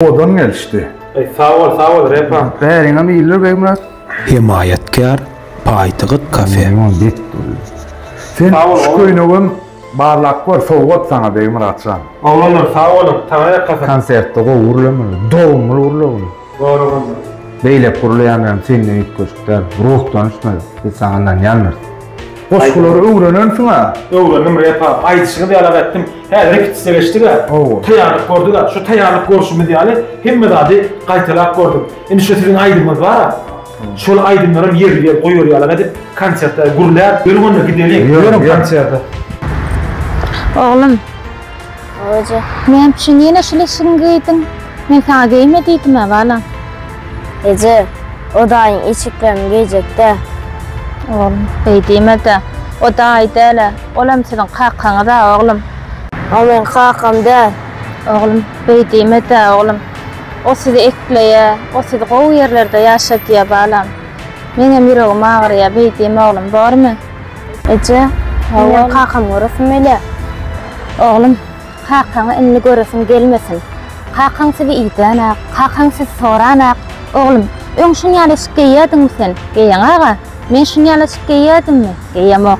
Odan gelişdi. Eý sag bol sag bol Repam. Bäriňem iýildir Begmyrat. Hemaýatkär Paýtygyt kafe. Limon bet durýar. Sen şu köýnegem barlap gör sowgat saňa Begmyratjan. Oglanlar sag boluň taňa ýakasyn. Konsertde gowy gürlemeli. Dogumly gürle bunu. Goraganda. Beýleki gürleýänlerem senden üýtgeşik däl. Ruhdan ösmeli. Biz saňa ynanýandyrs. Goşgulary öwrenensiň-a? Öwrendim repa. Aýdyşyňyz ýaly ag etdim. Häzir repetisiýa geçdik-ä. Hawa. Taýýarlyk gördük-ä. Şu taýýarlyk görşümiz ýaly hemme zady gaýtalap gördük. Indi şu siziň aýdymyňyz bar-a. Şol aýdymlaram ýerli ýer goýberýärler-ä diýip, konsertde gürläp. Ýörüň onda gideliň. Ýörüň konserte. Oglum. Oje, näme üçin ýene şul eşigiňi geýdiň? Men saňa geýme diýdim-ä, balam. Eje, o daýyň eşiklerini geýjek-dä. Oglum, beý diýme-de. O daýy däl-ä. Olam siziň kakaňyz-a, oglum. O meň kakam däl. Oglum, beý diýme-dä, oglum. O sizi ekleýär. O sizi gowy ýerlerde ýaşadýar, balam. Meňem ýüregim agyrýar, beý diýme, oglum, bormy? Eje, menden kakamy göresim gelýär. Oglum, kakaňy indi göresiň gelmesin. Kakaň sizi idänä, kakaň sizi sorana, oglum, öň şuny ýaly eşik geýýärdiňmi sen? Geýeň aga, men şuny ýaly eşik geýýärdimmi? Geýemok.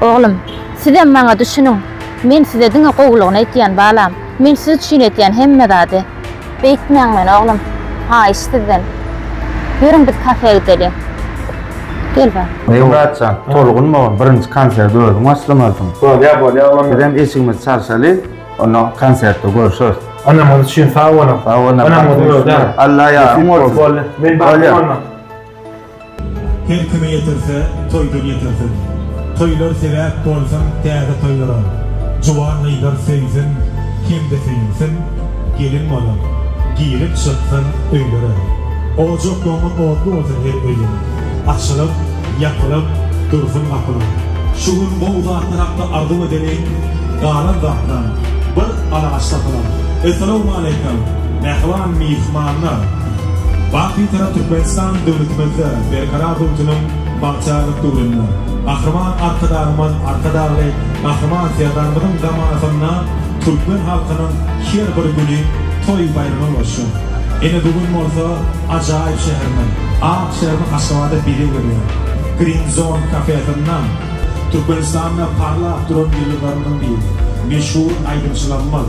Oglum, sizem maňa düşüniň. Men size diňe gowulygyny edýän, balam. Men siz üçin edýän hemme zady. Beýtmäň meni oglum. Haýyş sizden. Ýörüň biz kafä gideli. Gel bar. Meýemyrat jan, tolgunma oglum, birinji konserti özüň başlamalysyň. Bolýar, bolýar oglum. Bizem eşigimizi çalşaly, onda konsertde görşeris. Ynamyňyz üçin sag boluň. Sag boluň. Ynamyňyzy öwdäň. Alla ýaryň bolsun. Boldy. Men barmyň onda? Her kime ýetirse, toýdan ýetirsin. Toýlar sebäp bolsun täze toýlara. Juwan gyzlar söýsin hem-de söýünsin, Gelin bolup, girip çyksyn öýlere. Ojak ýoňy otly bolsun her öýüň, Açylyp, ýapylyp dursun gapylar. Şu gün gowy zatlar hakda arzuw edeliň, Galan zatdan bir alaç tapylar. Essalawmaleýkum, mähriban myhmanlar! Baky tarap Türkmenistan döwletimizde Berkarar Rutynyň bagtyýarlyk döwründe, Gahryman Arkadagymyz Arkadagly Gahryman Serdarymyzyň zamanasynda türkmen halkynyň her bir güni toý-baýrama ulaşýar. Ine bu gün bolsa ajaýyp şäherimiz, ak şäherimiz Aşgabada bezeg berýär. Green Zone kafesinde Türkmenistanda parlap duran ýyldyzlarymyzyň biri, meşhur aýdymçylarymyz,